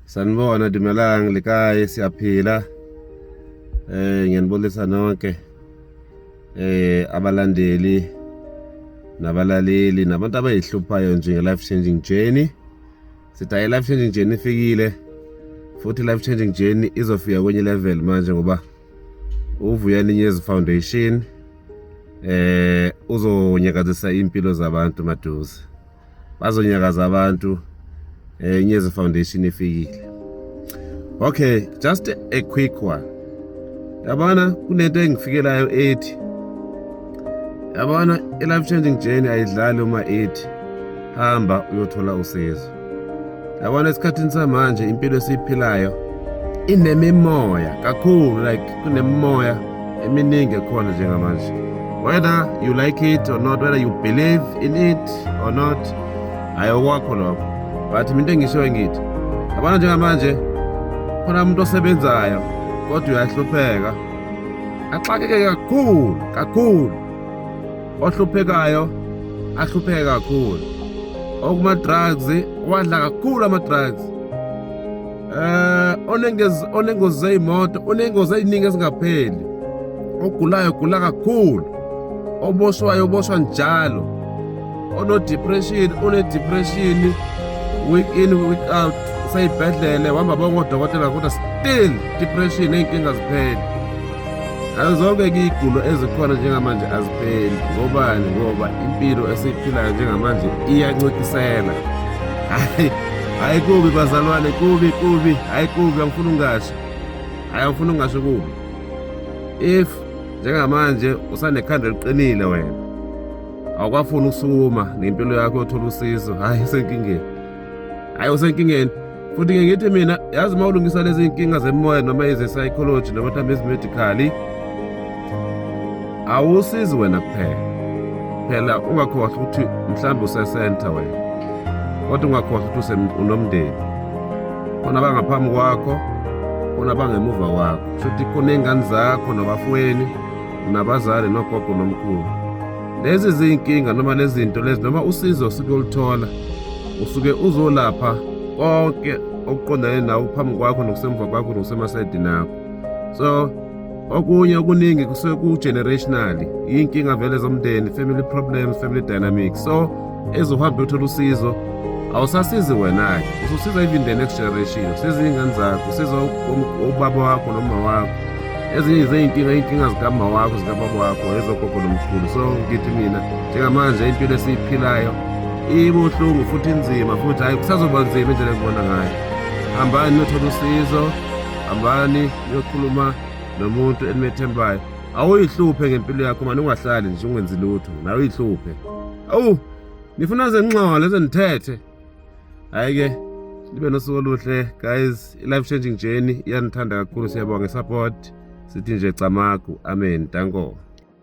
sanibona dumelang le kae siyaphila eh ngiyanibonisa nonke eh abalandeli nabalaleli nabantu abayihluphayo nje nge-life changing journey sithi hayi i-life changing journey ifikile futhi i-life changing journey izofika kwenye level manje ngoba uvuya ninyezi foundation eh uzonyakazisa impilo zabantu maduze bazonyakaza abantu eh Nyezi Foundation ifikile okay just a quick one yabona kunento engifikelayo ethi yabona i-life changing journey ayidlali uma ethi hamba uyothola usizo yabona esikhathini samanje impilo esiyiphilayo inemimoya kakhulu like kunemimoya eminingi ekhona njengamanje whether you like it or not whether you believe in it or not hayi okwakho lokho but mina into engishoyo ngithi yabona njengamanje khona umuntu osebenzayo kodwa uyahlupheka axakeke kakhulu kakhulu ohluphekayo ahlupheke kakhulu okuma-drugs wadla kakhulu ama-drugs eh onengozi zeyimoto onengozi eziningi ezingapheli ogulayo gula kakhulu oboshwayo oboshwa njalo onodepression unedepression week in week out sayibhedlele wamba bongodokotela kodwa still depression ey'nkinga zipheli Azobe kuyigulo ezikhona njengamanje azipheli ngobani ngoba impilo esiyiphilayo njengamanje iyancikisela hayi hayi kubi bazalwane kubi kubi hayi kubi angifuni ungasho hayi angifuni ungasho kubi if njengamanje usanekhanda eliqinile wena awukwafuni ukusukuma ngempilo yakho yothola usizo hhayi isenkingeni hayi usenkingeni futhi ngeke ngithi mina yazi uma ulungisa lezi nkinga zemoya noma eze-psychology noma mhlawumbe ezimedicali awusizi wena kuphela phela ungakhohlwa ukuthi mhlawumbe usesenta wena kodwa ungakhohlwa ukuthi unomndeni khona abangaphambi kwakho khona abangemuva kwakho shuthi khona iy'ngane zakho nabafweni nabazali nogogo nomkhulu lezi zinkinga noma lezi zinto lezi noma usizo osuke ulithola usuke uzolapha konke okuqondane nawo phambi kwakho nokusemva kwakho nokusemasayidini akho so okunye okuningi kusuke ku-generationally iy'nkinga vele zomndeni family problems family dynamics so ezohamba yothola usizo awusasizi wena-ke ususiza even the next generation usiza iy'ngane zakho usiza ubaba wakho noma wakho ezinye zey'nkinga iy'nkinga zikama wakho zikababa wakho ezogogo nomkhulu so ngithi mina njengamanje impilo esiyiphilayo ibuhlungu futhi inzima futhi hhayi kusazoba nzima indlela engibona ngayo hambani niyothola usizo hambani niyokhuluma nomuntu enimethembayo awuyihluphe ngempilo yakho mani ungahlali nje ungenzi lutho nawe uyihluphe Awu, nifuna zenxole zenithethe. Hayi ke, nibe nosuku oluhle guys. I-life changing journey iyanithanda kakhulu siyabonga support. Sithi nje camagu. Amen. Danko.